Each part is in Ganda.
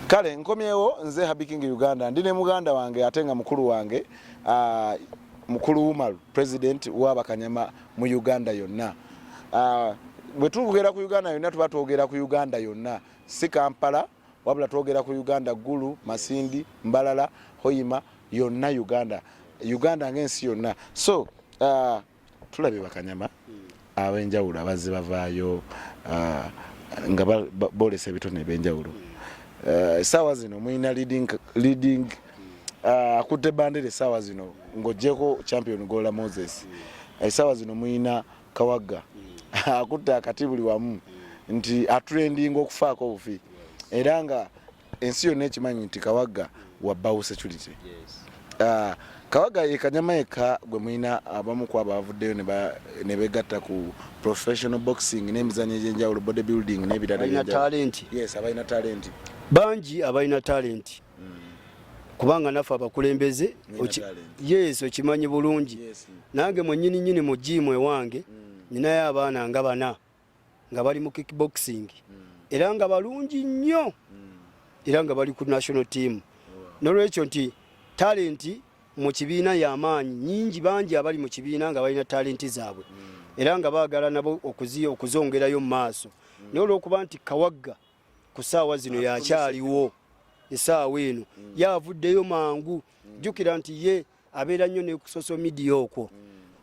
kale nkomyewo nze Happy King Uganda ndi ne muganda wange ate nga mukulu wange uh, mukulu Umaru president wa bakanyama mu Uganda yonna uh, bwe tugera ku Uganda yonna tuba twogera ku Uganda yonna si Kampala wabula twogera ku Uganda Gulu Masindi Mbalala Hoima yonna Uganda Uganda ng'ensi yonna so uh, tulabye bakanyama ab'enjawulo abazze bavaayo ah, nga boolesa ebitone eby'enjawulo eh, essaawa zino mulina leading ah, akutte bandera essaawa zino ng'ogyeko champion gola moses eh, essaawa zino mulina kawagga akutte akati buli wamu nti atrendinga okufaako obufi era nga ensi yonna ekimanyi nti kawagga wa bawo security ah, kawagga ye kanyama yekka gwe mulina abamu ku abo abavuddeyo ne begatta ku professional boxing n'emizanyo egy'enjawulo body building n'ebiralabalina talenti yes abalina talenti bangi abalina talenti hmm. kubanga naffe abakulembeze yes okimanyi bulungi nange mwenyini nyini mu jiimu ewange hmm. ninayo abaana nga bana nga bali mu kickboxing hmm. era nga balungi nnyo hmm. era nga bali ku national team nolwekyo nti talenti mu kibiina yamaanyi nyingi bangi abali mu kibiina nga balina talenti zaabwe hmm. era nga baagala nabo okuzongerayo mu maaso naye olwokuba nti kawagga ku saawa zino yakyaliwo esaawa eno yavuddeyo mangu jjukira nti ye yeah. abeera nnyo ne ku social media okwo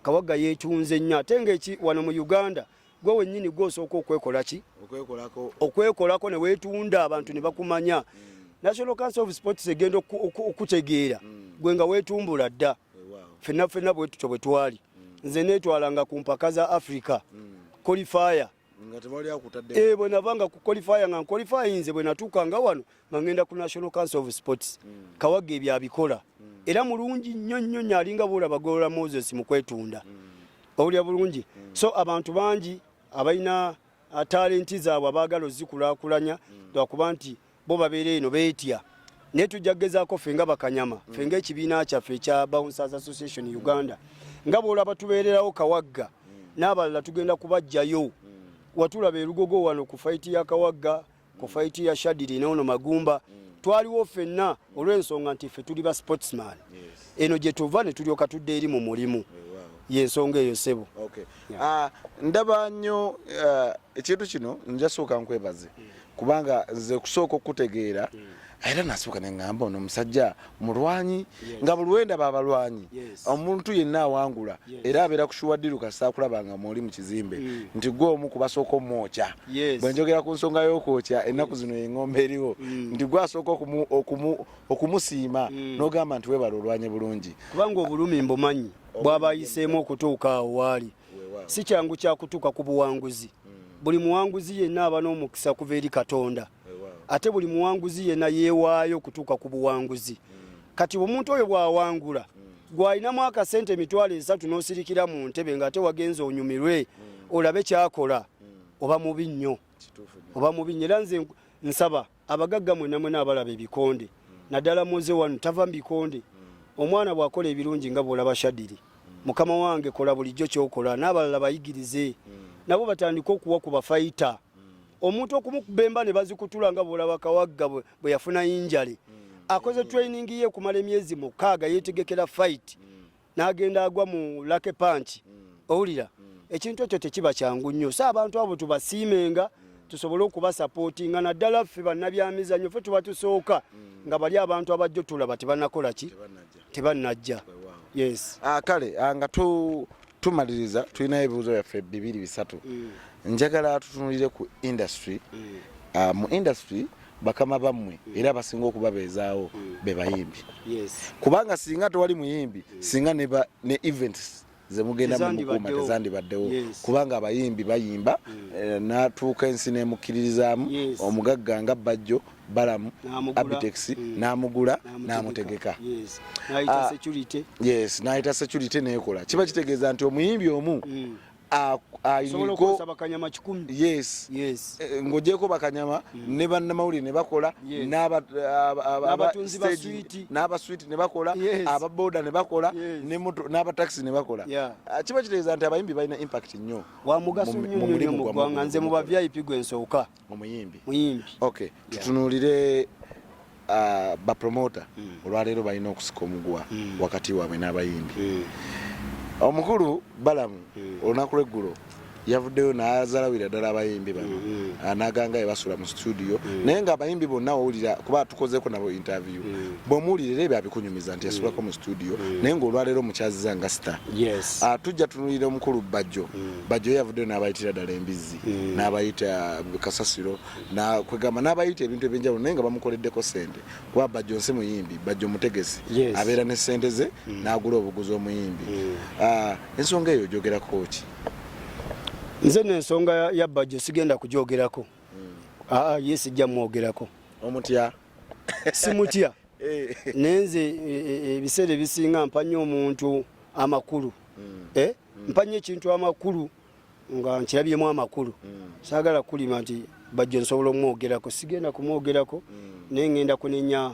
kawaga yeekyunze nnyo ate ngaeki wano mu uganda gwe wennyini gwosooka okwekola ki okwekolako ne weetunda abantu ne bakumanya mm. national council of sports egenda okutegeera mm. gwe nga weetumbula dda fenna fenna bwetutyo bwe twali mm. nze neetwalanga ku mpaka za africa qualifier Eh, bwe navanga ku qualifier nga nqualifyinze bwe natuuka nga wano nga ngenda ku national council of sports mm. kawaga ebyo abikola mm. era mulungi nnyo nnyo nnyo alinga bwolaba golola moses mu kwetunda mm. owulira bulungi mm. so abantu bangi abalina uh, talenti zaabwe abaagala ozikulakulanya mm. lwakuba mm. nti bo babeera eno beetya naye tujja kugezaako ffe nga bakanyama ffe nga ekibiina kyaffe ekya bouncers association uganda nga bwolaba tubeererawo kawagga n'abalala tugenda kubajjayo watulaba erugogo wano ku faiti ya kawagga ku faiti ya shadiri noono magumba twaliwo fenna olw'ensonga nti ffe tuli ba sportsman eno gye tuva ne tulyoka tudde eri mu mulimu yensonga eyo sebo ah, ndaba nnyo eh, ekintu kino njasooka nkwebaze kubanga nze kusooka okutegeera hmm. era nasibuka neŋamba ono omusajja mulwanyi nga buli wendaba abalwanyi omuntu yenna awangula era abeera kushuwaddiru kasaakulaba nga mwoli mu kizimbe hmm. nti gwe omu kubasooka omwokya bwe njogera ku nsonga y'okwokya hmm. ennaku zino eng'ombe eriwo nti gwe asooka okumusiima n'ogamba nti webala olwanye bulungi kubanga obulumi mbumanyi bwabayiseemu okutuuka awo waali si kyangu kyakutuuka ku buwanguzi mm. buli muwanguzi yenna aba n'omukisa kuva eri katonda ate buli muwanguzi yenna yeewaayo okutuuka ku buwanguzi mm. kati omuntu oyo bw'awangula mm. gw'alinamu akasente emitwalo esatu n'osirikira mu ntebe ng'ate wagenze onyumirwe olabe kyakola oba mubi nnyo oba mubi nnyo era nze nsaba abagagga mwena mwena abalaba ebikonde naddala muze wano tava mu bikonde omwana bw'akola ebirungi nga bw'olaba shadiri mukama wange kola bulijjo kyokola n'abalala bayigirize nabo batandike okuwa ku bafayita omuntu okumukubemba ne bazikutula nga bw'olaba kawagga bwe yafuna yinjale akoze training ye okumala emyezi mukaaga yeetegekera fayiti n'agenda agwa mu lake panki mm. owulira mm. ekintu ekyo tekiba kyangu nnyo so abantu abo tubasiimenga mm. tusobole okubasapootinga naddala ffe bannabyamizanyo fe tuba tusooka nga bali abantu abajjo tulaba tebanakola ki tebanajja yes ah, kale ah, nga tumaliriza tulinayo ebibuuzo byaffe bibiri bisatu njagala tutunulire ku industry ah, mu industry bakama bammwe era abasinga okubabeezaawo be bayimbi kubanga singa tewali muyimbi singa ne events zemugenda mumukuuma tezandibaddewo kubanga abayimbi bayimba hmm. eh, natuuka ensi nemukkiririzaamu omugagga nga bajjo balamu abitex hmm. namugula namutegeka nayita ah, security nekola kiba kitegeeza nti omuyimbi omu hmm. yes. yes. Eh, ng'ogyeko bakanyama mm. ne bannamawulire ne bakola n'abaswiti ne bakola ababoda ne bakola n'abatakisi ne bakola ah, kiba kitegeeza nti abayimbi balina impact nnyo wamugaso nnyo nnyo mu ggwanga nze mu ba vip gwe nsooka omuyimbi muyimbi okay tutunulire uh, ba promoter mm. olwaleero balina okusika omuguwa mm. wakati waabwe n'abayimbi mm. omukulu balamu mm. olunaku lweggulo yavuddeyo nazalawira ddala abayimbi bano mm-hmm. ah, naganga ebasula mu studio mm. naye nga abayimbi bonna owulira kuba tukozeko nabo interview mm. bwomuwulira era ebyo abikunyumiza nti yasulako mu studio mm. naye ngaolwaleero mukyaziza nga star ah, tujja tunulira omukulu bajjo bajjo yavuddeyo nabayitira ddala embizzi mm. n'abayita kasasiro kwegamba n'abayita ebintu ebyenjawulo naye nga bamukoleddeko sente kuba bajjo nsi muyimbi bajjo mutegesi abeera ne sente ze mm. n'agula obuguzi omuyimbi mm. ah, ensonga eyo ogyogerako ki nze no ensonga ya bajjo sigenda kugyogerako aa ah, ah, ye sijja mwogerako omutya simutya eh. naye nze e, e, e, ebiseera ebisinga mpanya omuntu amakulu hmm. eh? hmm. mpanya ekintu amakulu nga nkirabyemu amakulu mm. saagala kulima nti bajjo nsobola omwogerako sigenda kumwogerako mm. naye ngenda kunenya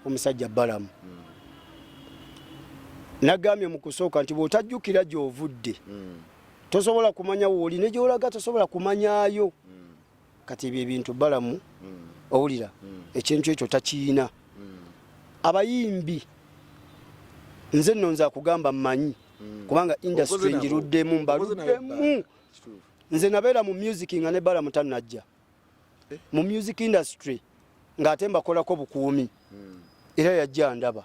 omusajja balamu mm. nagambye mu kusooka nti bw'otajjukira gy'ovudde mm. tosobola kumanya wooli ne gy'olaga tosobola kumanyayo mm. kati ebyo ebintu balamu owulira ekintu ekyo takiyina abayimbi nze nno nze akugamba mmanyi kubanga industry ngiruddemu mbaluddemu nze nabeera mu music nga ne balamu tanajja eh? mu music industry ng'ate mbakolako bukuumi hmm. era yajja ndaba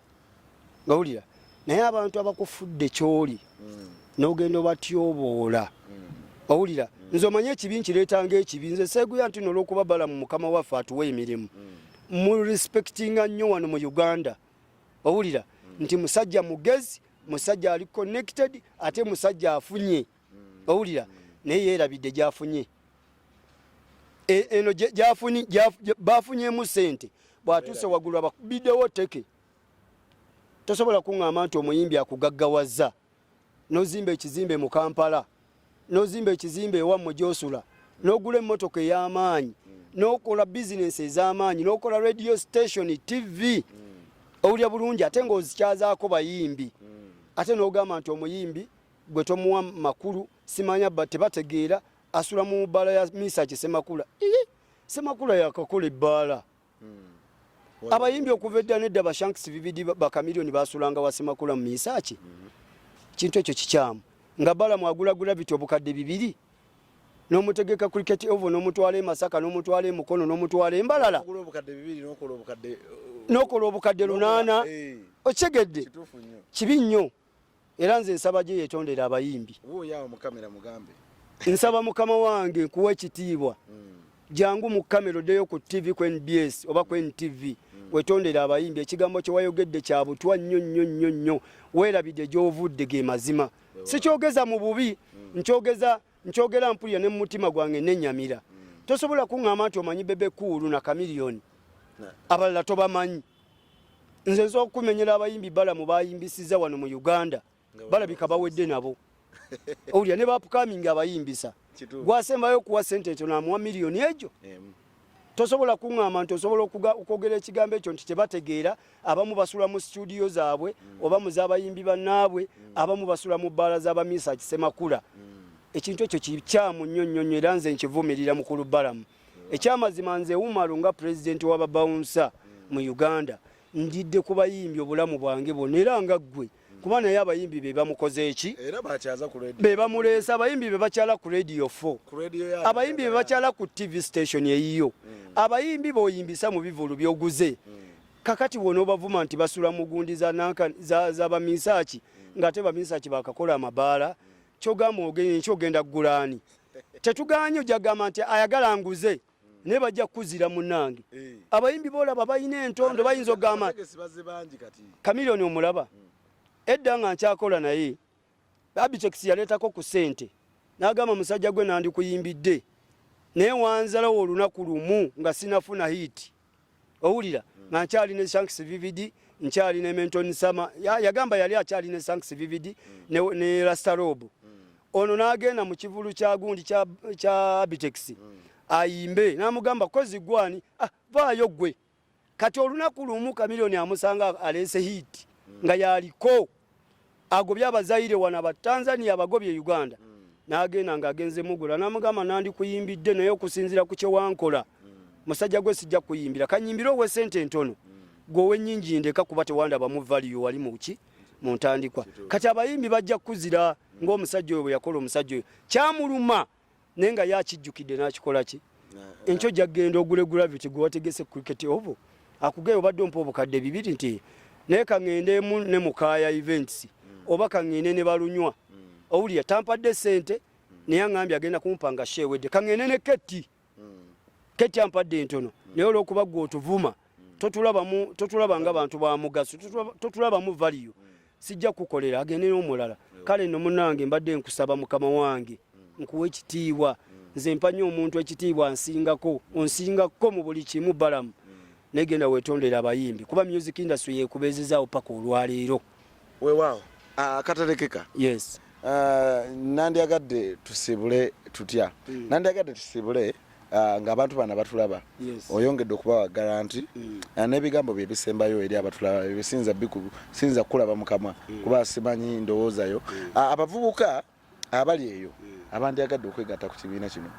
ngawulira naye abantu abakufudde kyoli hmm. n'ogenda obatyoboola hmm. owulira nze omanye ekibi nkireetanga ekibi nze seeguya nti nolwokuba bala mu mukama waffe atuwa emirimu mu respectinga nnyo wano mu uganda owulira nti musajja mugezi musajja ali connected ate musajja afunye mm. owulira naye yeerabidde gyafunye e, eno gyafuni bafunyemu sente bwatuuse waggulu abakubiddewo teke tosobola kuŋŋamba nti omuyimbi akugaggawaza nozimba ekizimbe mu kampala nozimba ekizimbe ewammwe gyosula nogula emmotoka ey'amaanyi nokola bizinensi ez'amaanyi nokola radio station tv owulya bulungi ate ngaozikyazaako bayimbi ate nogamba nti omuyimbi gwe tomuwa makulu simanya ba tebategeera asula mu bbaala ya misaki semakula ii semakula yakakola ebbaala hmm. abayimbi okuva edda nedda bashanks bibidi bakamilioni basulanga wa semakula mu misaki hmm. kintu ekyo kikyamu nga bala mwagula gravity obukadde bibiri nomutegeka cricket ovo nomutwala emasaka nomutwala emukono nomutwala embalala nokola obukadde lunana eh. okitegedde kibi nnyo era nze nsaba gye yetondera abayimbi nsaba mukama wange nkuwa ekitiibwa hmm. jangu mu kamera oddeyo ku tv ku nbs oba ku ntv hmm. wetondera abayimbi ekigambo kyewayogedde kya butwa nnyo nnyo nnyo nnyo weerabidde gyovudde ge mazima sikyogeza mu bubi hmm. nkyogeza nkyogera mpulira ne mu mutima gwange nenyamira tosobola kuŋŋamba nti omanyi bebe kuulu na kamiliyoni abalala tobamanyi nze nsobola okukumenyera abayimbi balamu bayimbisiza wano mu uganda balabika bawedde nabo owulira ne bapukamingi abayimbisa gwasembayo okuwa sente ekyo namuwa miliyoni egyo tosobola kuŋŋamba nti osobola okwogera ekigambo ekyo nti tebategeera abamu basula mu situdiyo zaabwe mm. oba mu z'abayimbi bannaabwe mm. abamu basula mu bbaala z'abamiisa kisemakula mm. ekintu ekyo kikyamu nnyo nnyo nnyo era nze nkivumirira mukulu balamu ekyamazima nze umaru nga pulezidenti wababawunsa mu uganda ndidde ku bayimbi obulamu bwange bwona era nga ggwe kuba naye abayimbi be bamukoze eki be bamuleesa abayimbi be bakyala ku radio f abayimbi be bakyala ku tv station eyiyo hmm. abayimbi boyimbisa mu bivulu byoguze hmm. kakati wona obavuma nti basula mugundi za baminsaki hmm. ngaate baminsaki bakakola amabaala kyogamba ogenye nkyogenda kugulaani tetuganye ojagamba nti ayagala nguze naye bajja kukuzira munange eh. abayimbi bolaba balina entondo bayinza okugamba kamilioni omulaba hmm. edda nga nkyakola naye abitex yaleetako ku sente nagamba musajja gwe nandikuyimbidde naye wanzalawo olunaku lumu nga sinafuna hiiti owulira mm. nga nkyali ne shanks vvd nkyali ne menton sama yagamba yali akyali ne shanks vvd mm. ne, ne rastarob mm. ono n'agenda mu kivulu kya gundi kya, kya abitex mm. ayimbe n'amugamba kozi gwani ah, vaayo gwe kati olunaku lumu kamilioni amusanga aleese hiiti mm. nga yaliko agobye abazaire wano abatanzania abagobye e uganda mm. nagenda nga agenze mugula namugamba nandikuyimbidde naye okusinzira ku kyewankola mm. musajja gwe sijja kuyimbira kanyimbire owe sente entono mm. gwe owenyingi ndeka kuba tewandaba mu valiyo wali muki mu ntandikwa kati abayimbi bajja kukuzira ngaomusajja oyo bwe yakola omusajja oyo kyamuluma naye nga ye akijjukidde n'akikola ki enkyo jagenda ogule gravity gwe wategese cricket obo akugeyo obadde ompa obukadde bibiri nti naye kaŋendeemu ne mukaaya events oba kaŋende ne balunywa owulira tampadde sente naye aŋambye agenda kumpa nga sheewedde kaŋende ne ketti ketti ampadde entono naye olwokuba gwe otuvuma totulabamu totulaba nga bantu ba mugaso totulabamu value sijja kukolera agende n'omulala kale no munange mbadde nkusaba mukama wange nkuwa ekitiibwa nze mpanya omuntu ekitiibwa nsingako onsingako mu buli kimu balamu negenda wetondera abayimbi kuba music industry yekubezezaawo paka olwaleero Weewaawo akaterekeka. Ah, yes. Ah, nandyagadde tusibule tutya mm. nandyagadde tusibule uh, ah, ng'abantu bana batulaba yes. oyongedde okubawa garanti mm. uh, n'ebigambo bye bisembayo eri abatulaba bisinza biku, sinza kulaba mukama mm. kuba simanyi ndowoozayo mm. uh, abavubuka abali eyo abandyagadde okwegatta ku kibiina kino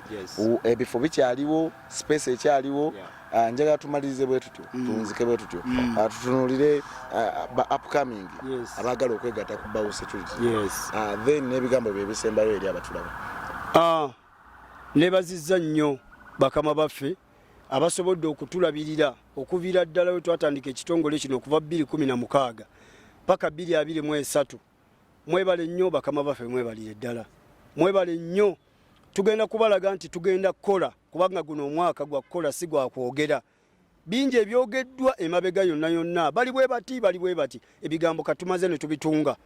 ebifo bikyaliwo space ekyaliwo ah, njagala tumalirize bwe tutyo mm. tunzike bwe tutyo mm. ah, tutunulire ah, ba upcoming abaagala okwegatta ku bawo security then n'ebigambo bye bisembayo eri abatulaba nebazizza nnyo bakama baffe abasobodde okutulabirira okuviira ddala we twatandika ekitongole kino okuva 216 paka 223 Mwebale nnyo bakama baffe, mwebalire ddala, mwebale nnyo. Tugenda kubalaga nti tugenda kukola, kubanga guno omwaka gwa kukola, si gwa kwogera. Bingi ebyogeddwa emabega yonna yonna, bali bwe bati, bali bwe bati, ebigambo katumaze ne tubitunga.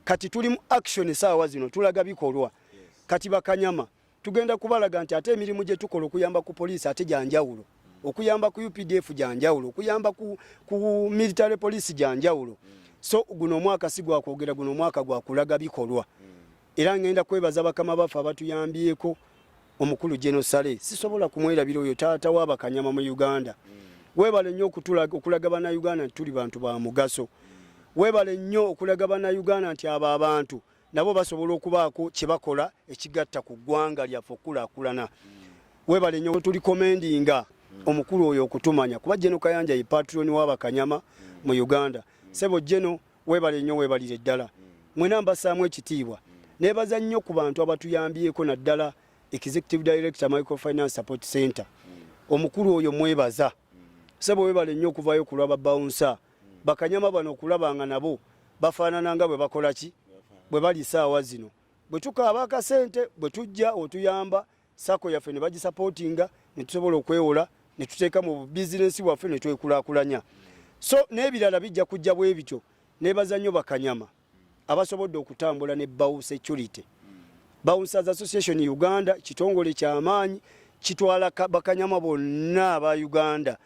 Kati tuli mu action saawa zino, tulaga bikolwa. Kati bakanyama tugenda kubalaga nti ate emirimu gye tukola okuyamba ku poliisi ate gyanjawulo okuyamba ku updf gyanjawulo okuyamba ku, ku military police gyanjawulo so guno omwaka si gwakwogera guno omwaka gwakulaga bikolwa era ngenda kwebaza bakama baffe abatuyambyeko omukulu genosale sisobola kumwerabira oyo taata wabakanyama mu uganda webale nnyo okulaga banauganda nti tuli bantu ba mugaso webale nnyo okulaga banauganda nti abo abantu nabo basobola okubaako kye bakola ekigatta ku ggwanga lyaffe okukulaakulana webale nyo tuli komendinga omukulu oyo okutumanya kuba jeno kayanja ye patroni wabakanyama mu uganda sebo jeno webale nyo webalire ddala mwena mbasaamu ekitiibwa nebaza nnyo ku bantu abatuyambyeko naddala executive director microfinance support center omukulu oyo mwebaza sebo webale nyo okuvayo kulwa babawunsa bakanyama bano okulaba nga nabo bafaanana nga bwe bakola ki bwe bali esaawa zino bwe tukaaba akasente bwe tujja otuyamba sako yaffe ne bagisapootinga ne tusobola okwewola ne tuteeka mu bizinensi bwaffe ne twekulakulanya so n'ebirala bijja kujja bwe bityo nebaza nnyo bakanyama abasobodde okutambula ne Bawu Security. Bouncers Association Uganda kitongole kyamaanyi kitwala bakanyama bonna aba Uganda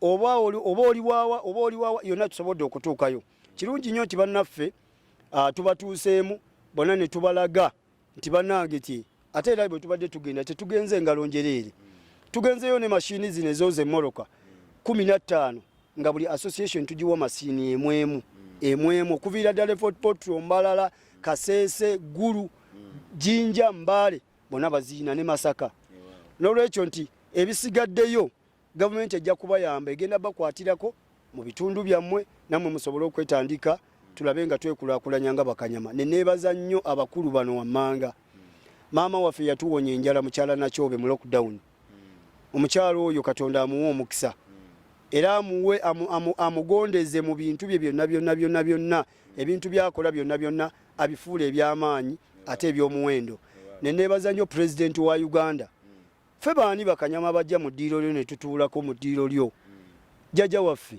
oba oliwawa oba oliwawa yonna tusobodde okutuukayo. Kirungi nnyo nti bannaffe ah, tubatuuseemu bona ne tubalaga nti banange ki ate era bwe tubadde tugenda tetugenze engalo njereere tugenzeyo ne mashini zino ezooza emoroka kumi na ttaano nga buli association tugiwa masiini emu emu emu emu okuviira ddala efort potro mbalala kaseese gulu jinja mbaale bona baziina ne masaka n'olwekyo nti ebisigaddeyo Gavumenti ejja kubayamba, egenda bakwatirako mu bitundu byammwe nammwe musobole okwetandika tulabe nga twekulakulanya nga bakanyama. Ne neebaza nnyo abakulu bano wammanga. Maama waffe yatuwonya enjala mukyala Nakyobe mu lockdown. Omukyala oyo Katonda amuwe omukisa era amuwe amugondeze mu bintu bye byonna byonna byonna byonna ebintu byakola byonna byonna abifuule eby'amaanyi ate eby'omuwendo. Ne neebaza nnyo pulezidenti wa Uganda. ffe baani bakanyama bajja mu ddiiro lyo ne tutuulako mu ddiiro lyo jjaja waffe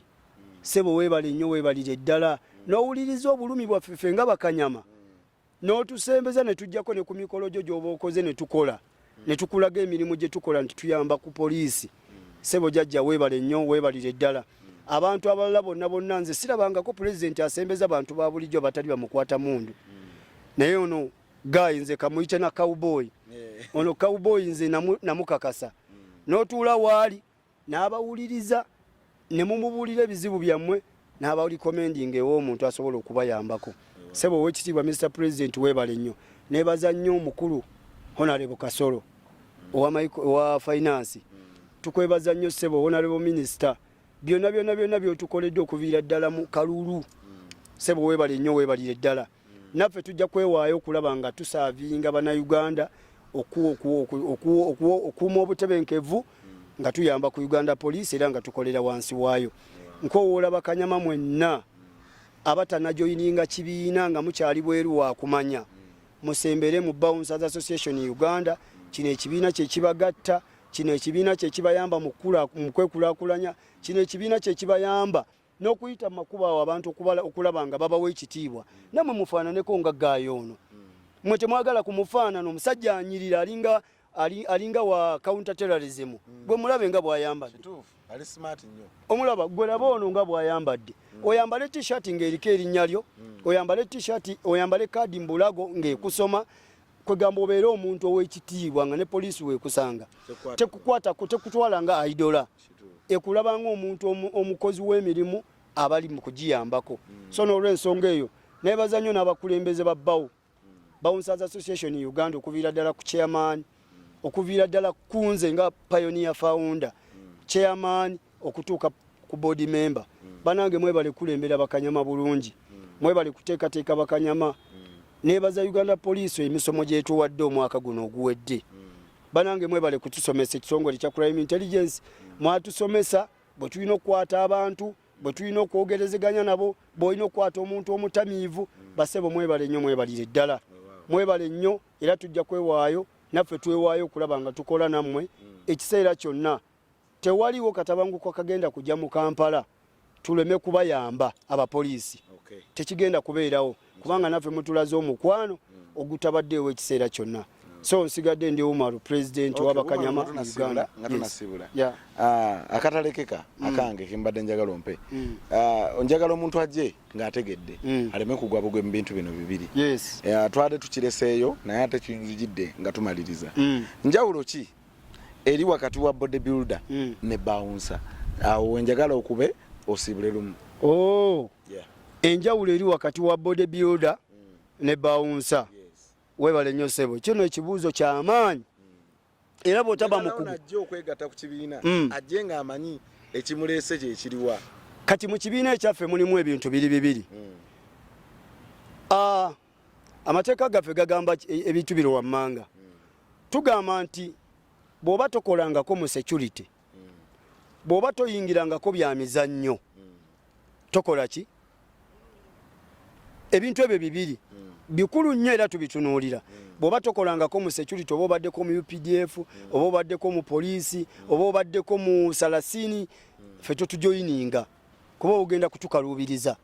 sebo weebale nnyo weebalire ddala n'owuliriza obulumi bwaffe ffe nga bakanyama n'otusembeza ne tujjako ne ku mikolo gyo gy'oba okoze ne tukola ne tukulaga emirimu gye tukola nti tuyamba ku poliisi sebo jajja weebale nnyo weebalire ddala abantu abalala bonna bonna nze sirabangako pulezidenti asembeza bantu ba bulijjo abatali bamukwata mundu naye ono Guy nze kamuyite na cowboy. Eh. Ono cowboy nze namukakasa. Mm. Notuula waali n'abawuliriza ne mumubuulira ebizibu byammwe n'aba recommending ew'omuntu asobola okubayambako. Eh. Sebo ow'ekitiibwa Mr President weebale nnyo. Neebaza nnyo omukulu Honorable Kasolo mm. owa finance. Mm. Tukwebaza nnyo sebo Honorable Minister. Byonna byonna byonna by'otukoledde okuviira ddala mu kalulu. Sebo weebale nnyo weebalire ddala. naffe tujja kwewaayo okulaba nga tusaavinga bannayuganda okuuma obutebenkevu nga tuyamba ku uganda poliisi era nga tukolera wansi waayo nkowoola bakanyama mwenna abatanajoyininga kibiina nga mukyali bweru wakumanya musembere mu bouncers association uganda kino ekibiina kyekibagatta kino ekibiina kyekibayamba mukwekulakulanya kino ekibiina kyekibayamba n'okuyita mu makubo awo abantu okubala okulaba nga babawa ekitiibwa namwe mufaananeko nga gaayo ono mwe temwagala ku mufaanano omusajja anyirira alinga alinga wa counter terrorism mm. gwe mulabe nga bwayambadde omulaba gwe laba ono nga bwayambadde mm. oyambale t-shirt ng'eriko erinnya lyo mm. oyambale t-shirt oyambale kaadi mbulago ng'ekusoma kwegamba obeere omuntu ow'ekitiibwa nga ne poliisi weekusanga tekukwatako tekutwala nga aidola ekulaba ng'omuntu omukozi w'emirimu abali mu kugiyambako mm. so n'olwensonga eyo nebaza nnyo n'abakulembeze ba bawo mm. bouncers association uganda okuviira ddala ku chairman mm. okuviira ddala kunze nga pioneer founder chairman okutuuka ku board member banange mwebale kulembera bakanyama bulungi mwebale kuteekateeka bakanyama nebaza uganda police emisomo gyetuwadde omwaka guno oguwedde banange mwebale kutusomesa ekitongole kya crime intelligence mwatusomesa bwe tulina okukwata abantu bwe tulina okwogerezeganya nabo bwolina okukwata omuntu omutamiivu basebo mwebale nnyo mwebalire ddala mwebale nnyo era tujja kwewaayo naffe twewaayo okulaba nga tukola nammwe ekiseera kyonna tewaliwo katabanguko kagenda kujja mu kampala tuleme kubayamba abapoliisi okay. tekigenda kubeerawo kubanga naffe mutulaze omukwano mm. ogutabaddeewo ekiseera kyonna mm. so nsigadde ndi umaru pulezidenti okay, wabakanyama uganda yes. yeah. uh, akatalekeka mm. akange kimbadde njagala ompe mm. uh, njagala omuntu ajje ng'ategedde mm. aleme kugwa bugwe mu bintu bino bibiri yes. uh, twade tukireseeyo naye ate kiyinzijidde nga tumaliriza mm. njawulo ki eri wakati wa body builder mm. ne bouncer awo wenjagala okube osibule lumu oh yeah enjawulo eri wakati wa body builder mm. ne bouncer yes. webale nyo sebo kino ekibuzo kya amaanyi mm. era botaba mukugu ajje okwegata ku kibiina mm. ajje nga amanyi ekimulese kye kiriwa kati mu kibiina ekyaffe mulimu ebintu biri bibiri mm. ah uh, amateeka gaffe gagamba e, ebintu bino wammanga tugamba nti bw'oba tokolangako mu security bw'oba toyingirangako bya mizannyo tokola ki ebintu ebyo bibiri bikulu nnyo era tubitunuulira bw'oba tokolangako mu security oba obaddeko mu updf oba obaddeko mu poliisi oba obaddeko mu salasini ffe totujoyininga kuba ogenda kutukaluubiriza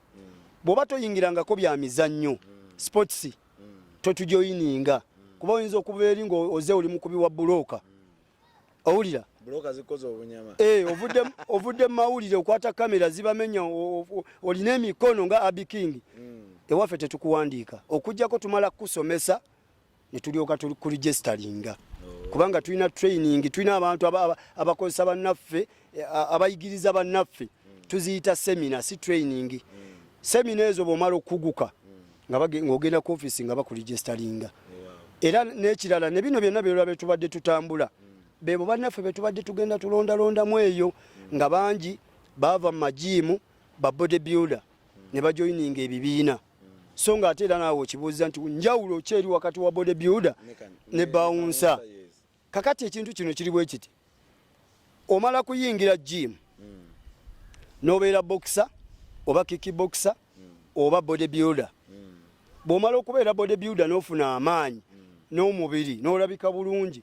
bwoba toyingirangako bya mizannyo sports totujoyininga kuba oyinza okuba eri nga oze oli mukubi wa bulooka owulira eh, ovudde mumawulire okwata kamera zibamenya olina emikono nga abiking mm. ewaffe tetukuwandiika okujjako tumala kukusomesa ne tulyoka kuligestalinga kubanga tulina training tulina abantu abakozesa bannaffe eh, abayigiriza bannaffe tuziyita semina si training semina ezo bwomala okuguka ngaogenda ku ofisi nga bakuligestalinga era n'ekirala ne bino byonna byolwa betubadde tutambula bebo bannaffe betubadde tugenda tulondalondamu eyo nga bangi baava mu majiimu ba body builder ne bajoyininga ebibiina so nga ate era naawe okibuuza nti njawulo ki eri wakati wa body builder ne bawunsa kakati ekintu kino kiri bwe kiti omala kuyingira jimu hmm. n'obeera bokisa oba kiki bokisa hmm. oba body builder hmm. bw'omala okubeera body builder n'ofuna amaanyi n'omubiri n'olabika bulungi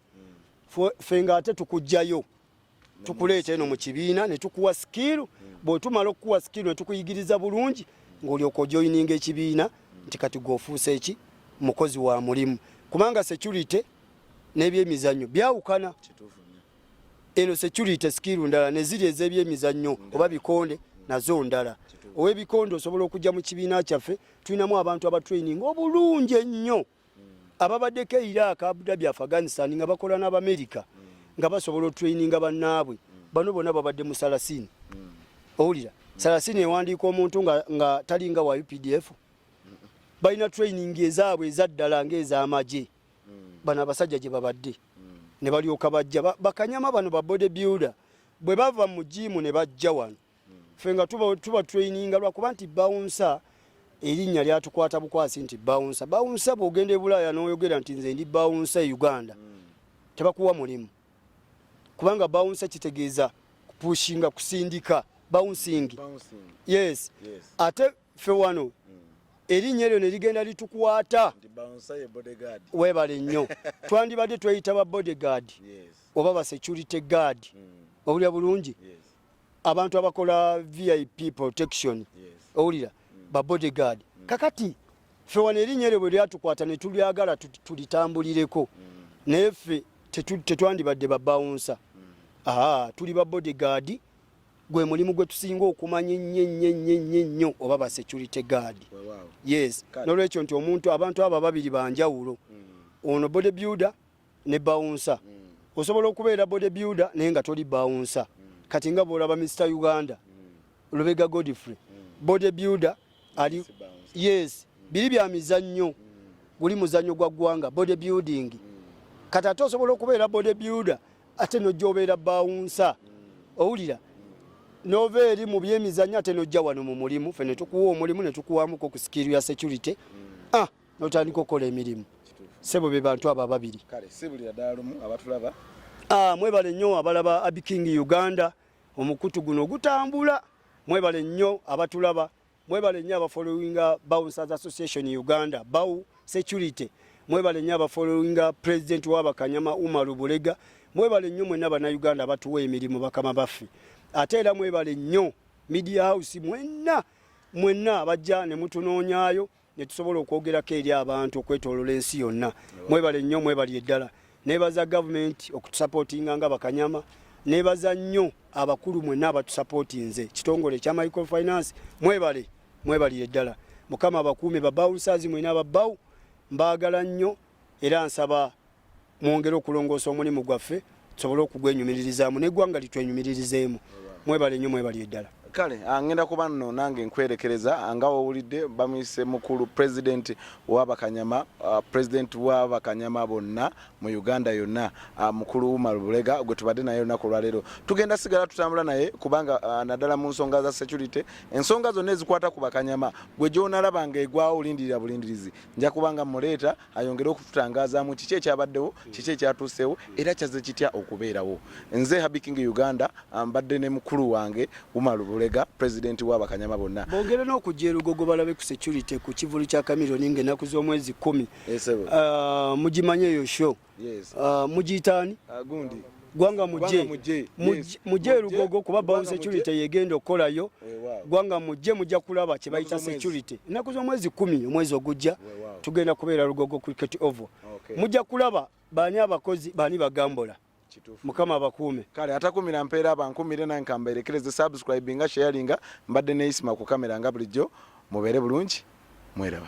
fe nga ate tukugjayo tukuleeta eno mu kibiina ne tukuwa sikiiru bw'otumala okukuwa sikiiru ne tukuyigiriza bulungi ng'olyoka ojoyininga ekibiina nti kati gwofuuse eki mukozi wa mulimu kubanga security n'ebyemizannyo byawukana eno security sikiiru ndala neziri ez'ebyemizannyo oba bikonde nazo ndala ow'ebikonde osobola okujja mu kibiina kyaffe tulinamu abantu abatraining obulungi ennyo ababadeko e iraq abudabi afghanistan nga bakola n'abamerika nga basobola otraininga bannaabwe bano bona babadde mu salasini owulira salasini ewandiika omuntu nga talinga wa updf balina training ezaabwe ezaddala ngaez'amagye bano abasajja gye babadde ne balyoka bajja bakanyama bano ba body builder bwe bava mu jiimu ne bajja wano ffe nga tuba, tuba traininga lwakuba nti bawunsa erinnya lyatukwata bukwasi nti bawunsa bawunsa bwogenda e bulaaya n'oyogera nti nze ndi bawunsa e uganda mm. tebakuwa mulimu kubanga bawunsa kitegeeza kupushinga kusindika bouncing, bouncing. Yes. yes ate ffe wano mm. erinnya eryo ne ligenda litukwata webale nnyo twandibadde tweyita ba bodyguard yes. oba ba security guard mm. obulya bulungi yes. abantu abakola vip protection owulira mm. ba bodyguard mm. kakati ffe wano erinnya eryo bwe lyatukwata ne tulyagala tulitambulireko mm. naye ffe tetwandibadde babawunsa aa tuli ba bodyguard gwe mulimu gwe tusinga okumanya ennyo ennyo ennyo ennyo ennyo oba ba security guard yes nolwekyo nti omuntu abantu abo ababiri banjawulo ono bodybuilder ne bawunsa osobola okubeera body builder naye nga toli bawunsa kati nga bwolaba mr uganda lubega godfrey body builder ali yes biri bya mizannyo guli muzannyo gwa ggwanga body building kati ate osobola okubeera body builder ate nojja obeera bawunsa owulira nova eri mu byemizannyo ate nojja wano mu mulimu fe netukuwa omulimu netukuwamuko ku sikiiru ya security ah notandika okukola emirimu sebo be bantu abo ababiri ah, mwebale nnyo abalaba abiking uganda omukutu guno gutambula mwebale nnyo abatulaba mwebale nnyo abafollowinga bouncers association uganda bau security mwebale nnyo abafollowinga president wabakanyama umaru bulega mwebale nnyo mwena banauganda abatuwa emirimu bakama baffe ate era mwebale nnyo media house mwenna mwenna abajja ne mutunoonyaayo ne tusobola okwogerako eri abantu okwetolola ensi yonna mwebale nnyo mwebali eddala nebaza gavumenti okutusapootinga nga bakanyama nebaza nnyo abakulu mwenna abatusapootinze kitongole ekya microfinance mwebale mwebalire eddala mukama abakuume babawusazi mwena ababawu mbaagala nnyo era nsaba mwongere okulongoosa omulimu gwaffe tusobole okugwenyumiririzaamu neggwanga litwenyumiririzeemu mwebale nnyo mwebali eddala kale angenda ah, kuba nno nange nkwerekereza ah, nga wowulidde bamuyise mukulu pulezidenti wabakanyama ah, pulezidenti wabakanyama bonna mu uganda yonna mukulu umar bulega gwe tubadde naye olunaku olwaleero tugenda sigala tutambula naye kubanga naddala mu nsonga za security ensonga zonna ezikwata ku bakanyama gwe gyonalaba nga egwawo olindirira bulindirizi nja kubanga muleeta ayongere okututangazaamu kiki ekyabaddewo kiki ekyatuuseewo era kyazze kitya okubeerawo nze habi king uganda mbadde ne mukulu wange umaru bulega pulezidenti w'abakanyama bonna bongere n'okujja erugogo balabe ku security ku kivulu kya kamironi ng'ennaku z'omwezi kumi eh, ah, mugimanye eyo sho ah, mugiyitaani ah, gundi gwanga mujje mujje lugogo kuba bawo security yegenda okukolayo gwanga mujje mujja kulaba kye bayita security ennaku z'omwezi kumi omwezi ogujja tugenda kubeera lugogo cricket oval mujja kulaba baani abakozi baani bagambola mukama abakuume kale atakumira mpeera abankumire nange kambeerekereze subscribinga sharinga mbadde neyisima ku kamera nga bulijjo mubeere bulungi mweraba